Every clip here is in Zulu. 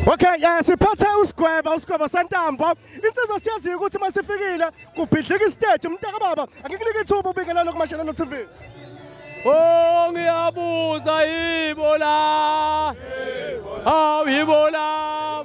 Okay, eh siphathe usigweba usigweba sentambo. Insizwa siyaziyo ukuthi masifikile kubhidlika istage umntaka baba. Angikunike ithuba ubingelelo kuMashelelo TV. Oh ngiyabuza yibo la. Hawu yibo la.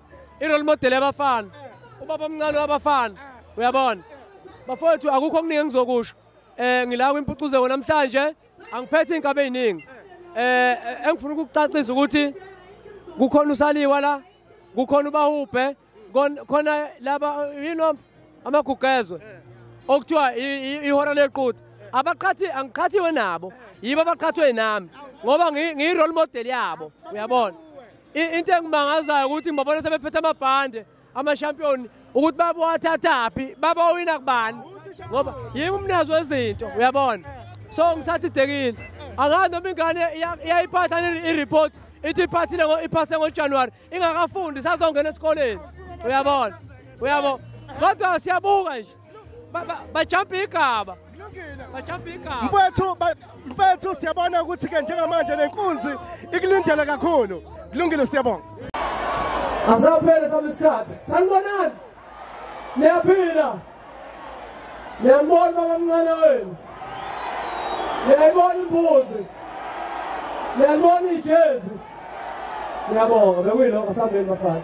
irole model yabafana ubaba omncane wabafana uyabona bafowethu akukho okuningi engizokusho um ngila kwimpucuzeko namhlanje angiphethe iy'nkabe ey'ningi eh, eh engifuna ukukucacisa ukuthi kukhona usaliwa la kukhona ubahubhe khona laba yini amagugezwe okuthiwa ihora lequda abaqhathi angiqhathiwe nabo yibo abaqhathwe nami ngoba ngiyirole model yabo uyabona Into engimangazayo ukuthi ngibabona sebephethe amabhande amashampiyoni ukuthi babowathathaphi babowina kubani ngoba yimi umnazi wezinto uyabona so ngithatha idekile angazi noma ingane iyayiphatha i-report ithi iphathile iphase ngojanuwari ingakafundi sazongena esikoleni uyabona uyabo kodwa siyabuka nje bajampa igaba bajampa igaba mfethu mfethu siyabona ukuthi ke njengamanje nenkunzi ikulindele kakhulu kulungile siyabonga asaphele sami isikhathi sanibonani niyaphila niyambona babamncane wenu niyayibona imbuzi niyalibona ijezi niyabonga bekuyilokho sambeni bafana